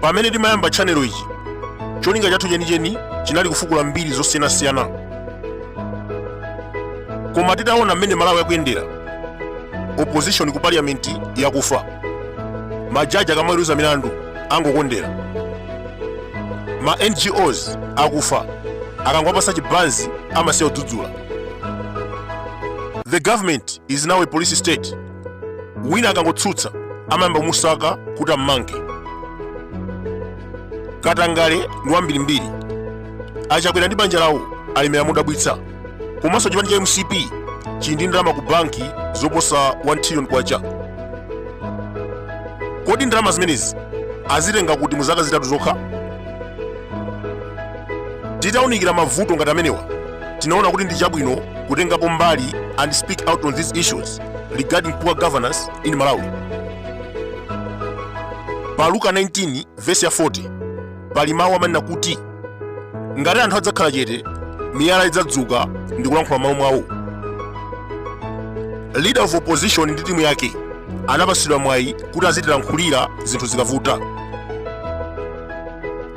pamene timayamba tchanelo ichi cholinga chathu chenicheni chinali kufukula mbiri zosiyanasiyana koma titaona mmene malawi akuyendera opposition ku parliament yakufa majaji akamaweruza milandu angokondera ma ngos akufa akangowapasa chibanzi amasiya kudzudzula the government is now a police state wina akangotsutsa amayamba kumusaka kuti ammange katangale ndi wambirimbiri a Chakwera ndi banja lawo alemera modabwitsa komanso chipani cha mcp chili ndi ndalama ku banki zoposa 1 trillion kwacha kodi ndalama zimenezi azitenga kuti mu zaka zitatu zokha titaunikira mavuto ngati amenewa tinaona kuti ndi chabwino kutengapo mbali and speak out on these issues regarding poor governance in malawi pa luka 19 vesi ya 40 pali mawu amene amanena kuti ngati anthu adzakhala chete miyala idzadzuka ndi kulankhula malo mwawo leader of opposition ndi timu yake anapatsidwa mwayi kuti azitilankhulira zinthu zikavuta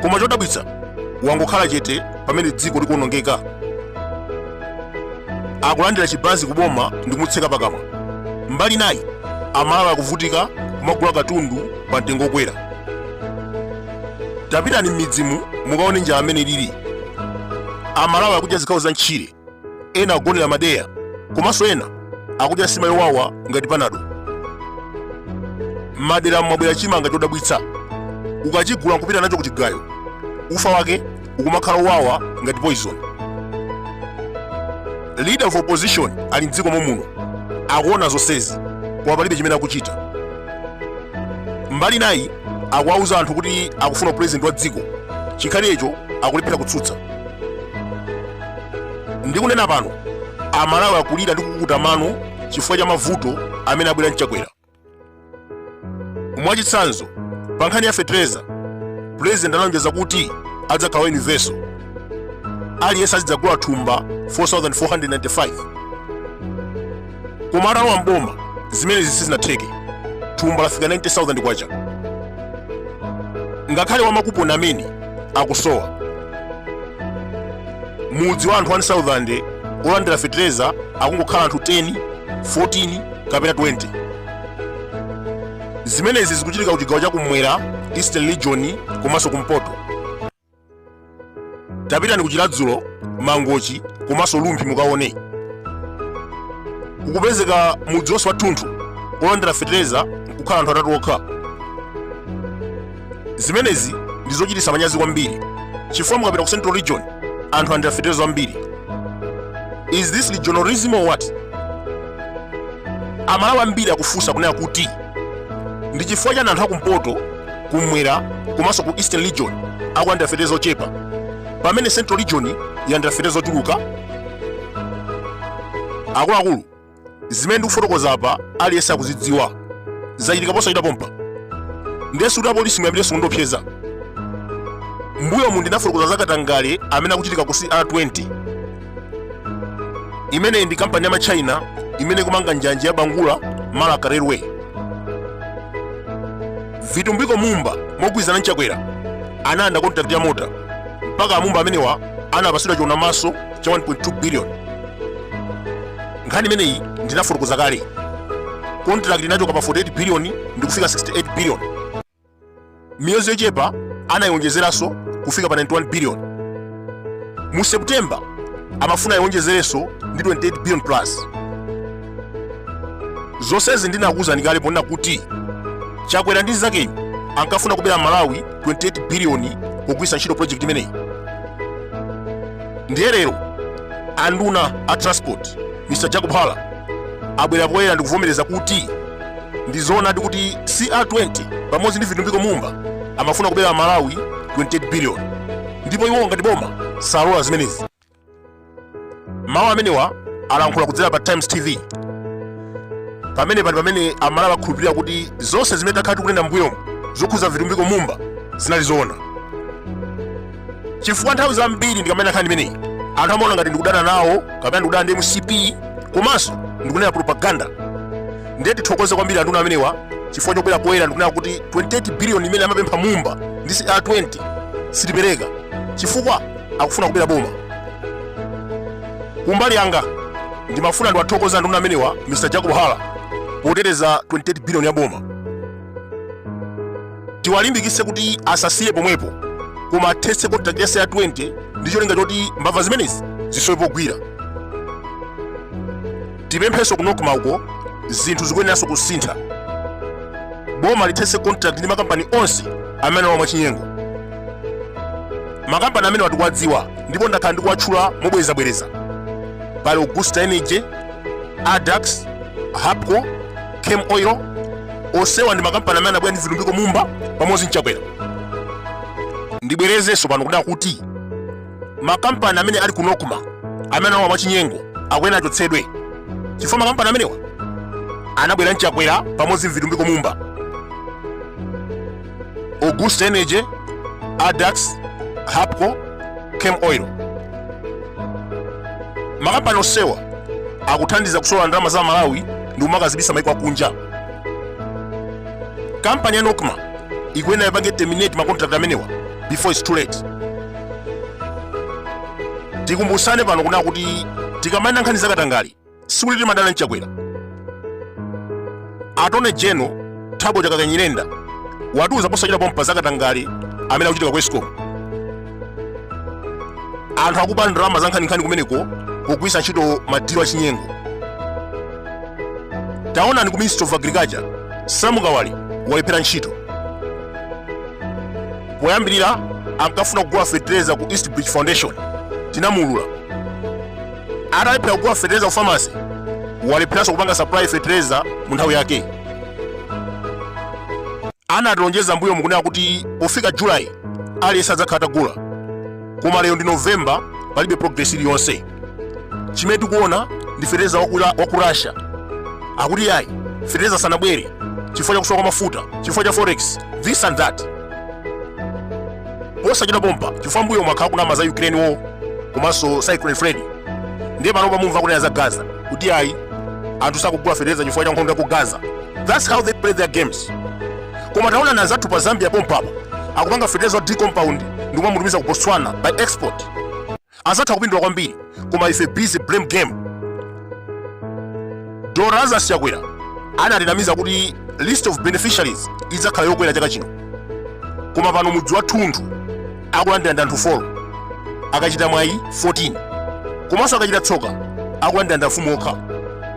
koma chodabwitsa wangokhala chete pamene dziko likuonongeka akulandira chibanzi kuboma ndi kumutseka pakamwa mbali nayi amalawi akuvutika kumagula katundu pa mtengo okwera tapitani m'midzimu mukaone njala mmene ilili amalawi akudya zikhawo za ntchire ena akugonera madeya komanso ena akudya sima yowawa ngati panado madera mu mwabwera chimanga chodabwitsa ukachigula nkupita nacho kuchigayo ufa wake ukumakhala owawa ngati poison leader of opposition ali mdziko momuno akuona zonsezi koma palibe chimene akuchita mbali nayi akuwauza anthu kuti akufuna u president wa dziko chikhalirecho akulephera kutsutsa ndikunena pano amalawi akulira ndi kukuta mano chifukwa cha mavuto amene abwera nChakwera mwachitsanzo pa nkhani ya fetereza pulezidenti analonjeza kuti adzakhala wa universal aliyense azidzagula thumba 4495 koma atalowa mboma zimenezi sizinatheke thumba lafika 90000 kwacha ngakhale wamakuponi amene akusowa mudzi wa anthu 1000 olandira fetereza akungokhala anthu 10 14 kapena 20 zimenezi zikuchitika ku chigawo chakumwera eastern region komanso kumpoto tapitani ku chiradzulu mangochi komanso rumphi mukaone kukupezeka mudzi wonse wathunthu olandira fetereza kukhala anthu atatu okha zimenezi ndi zochititsa manyazi kwambiri chifukwa mukapita ku central region anthu alandira fetereza ambiri is this regionalism or what amalawi ambiri akufunsa kunena kuti ndi chifukwa chani anthu akumpoto kumwera komanso ku eastern region akulandira fetereza ochepa pamene central region yalandira fetereza ochuluka akuluakulu zimene ndikufotokoza apa aliyense akuzidziwa zachitika posachita pompa ndiye sikuti apolisi muyambirenso kundiopseza mbuyomu ndinafotokoza za katangale amene akuchitika ku cr20 imeneyi ndi kampani ya matchaina imene ikumanga njanji ya bangula marka railway vitumbiko mumba mogwirizana ndi chakwera analanda kontakiti ya mota mpaka amumba amenewa anapatsidwa chionamaso cha 1.2 billion nkhani imeneyi ndinafotokoza kale contract inachoka pa 48 billion ndi kufika 68 billion miyezi yochepa anayionjezeranso kufika pa 91 billion mu september amafuna ayionjezerenso ndi 28 billion plus zonsezi ndinakuwuzani kale ponena kuti chakwera ndi mnzakeyu ankafuna kubera amalawi 28 biliyoni pogwiritsa ntchito project imeneyi ndiye lero anduna a transport mr jacob hara abwera poyera ndikuvomereza kuti ndi zoonadi kuti cr20 pamodzi ndi vitumbiko mumba amafuna kubera amalawi 28 billion ndipo iwo ngati boma sallola zimenezi mawu amenewa alankhula kudzera pa times tv pamene pano pamene amalawi akhulupirira kuti zonse zimene takhala tikunena mbuyomu zokhuza vitumbiko mumba zinali zoona chifukwa nthawi zambiri ndikamanena nkhani imeneyi anthu amaona ngati ndikudana nawo kapena ndikudana ndi mcp komanso ndikunena propaganda ndiye tithokoze kwambiri anduna amenewa chifukwa chobwera poyera ndikunena kuti 28 biliyoni imene amapempha mumba ndi cr20 sitipereka chifukwa akufuna kubera boma kumbali yanga ndimafuna ndiwathokoze anduna amenewa mr jacob hara poteteza 28 biliyoni ya boma tiwalimbikitse kuti asasiye pomwepo koma athetse kontrakt yase ya 20 ndi cholinga choti mbava zimenezi zisowe pogwira tipemphenso ku nokma uko zinthu zikuyeneranso kusintha boma lithetse kontrakt ndi makampani onse amene alowa mwachinyengo makampani amenewa tikuwadziwa ndipo ndakhala ndikuwatchula mobwerezabwereza pali augusta energy addax hapco camel oil onsewa ndi makampani amene anabwera ndi vitumbiko mumba pamodzi ndi chakwera ndibwerezenso pano kunena kuti makampani amene ali ku nokma amene alowa mwachinyengo akuyenera achotsedwe chifukwa makampani amenewa anabwera ndi chakwera pamodzi ndi vitumbiko mumba Augusta Energy, Addax, Hapco, Camel Oil. Makampani onsewa akuthandiza kusolola ndalama za aMalawi ndi kumakazibisa maiko akunja. Kampani ya Nocma ikuyenera ipange terminate makontrakt amenewa before it's too late. Tikumbusane pano kunena kuti tikamanena nkhani zakatangale sikuti timadana ndi chakwera attorney general thabo chakaka nyirenda watiuza posachedwa pompa zakatangale amene akuchitika ku escom anthu akuba ndalama zankhaninkhani kumeneko pogwiritsa ntchito madilu achinyengo taonani ku ministry of agriculture sam kawale walephera ntchito poyambirira ankafuna kugula fetereza ku east bridge foundation tinamuulula atalephera kugula fetereza ku famasi walepheranso kupanga supply fetereza mu nthawi yake anatilonjeza mmbuyomu kunena kuti pofika julayi aliyense adzakhala atagula koma lero ndi novemba palibe progress iliyonse chimene tikuona ndi fetereza wa ku Ra- wa ku russia akuti yayi fetereza sanabwere chifukwa cha kusowa kwa mafuta chifukwa cha forex this and that posachedwa pompa chifukwa mmbuyomu akhala akunama za ukraine war komanso cyclone freddy ndiye panopa mumva akunena za gaza kuti ayi anthu sakugula fetereza chifukwa cha nkhondo ya ku gaza thats how they play their games koma taonani anzathu pa zambia pompapa akupanga fetereza wa d compound ndi kumamutumiza ku botswana by export anzathu akupindula kwambiri koma ife busy blame game dr lazarus chakwera anatinamiza kuti list of beneficiaries idzakhala yokwera chaka chino koma pano mudzi wathunthu akulandira ndi anthu 4 akachita mwayi 14 komanso akachita tsoka akulandira ndi amfumu okha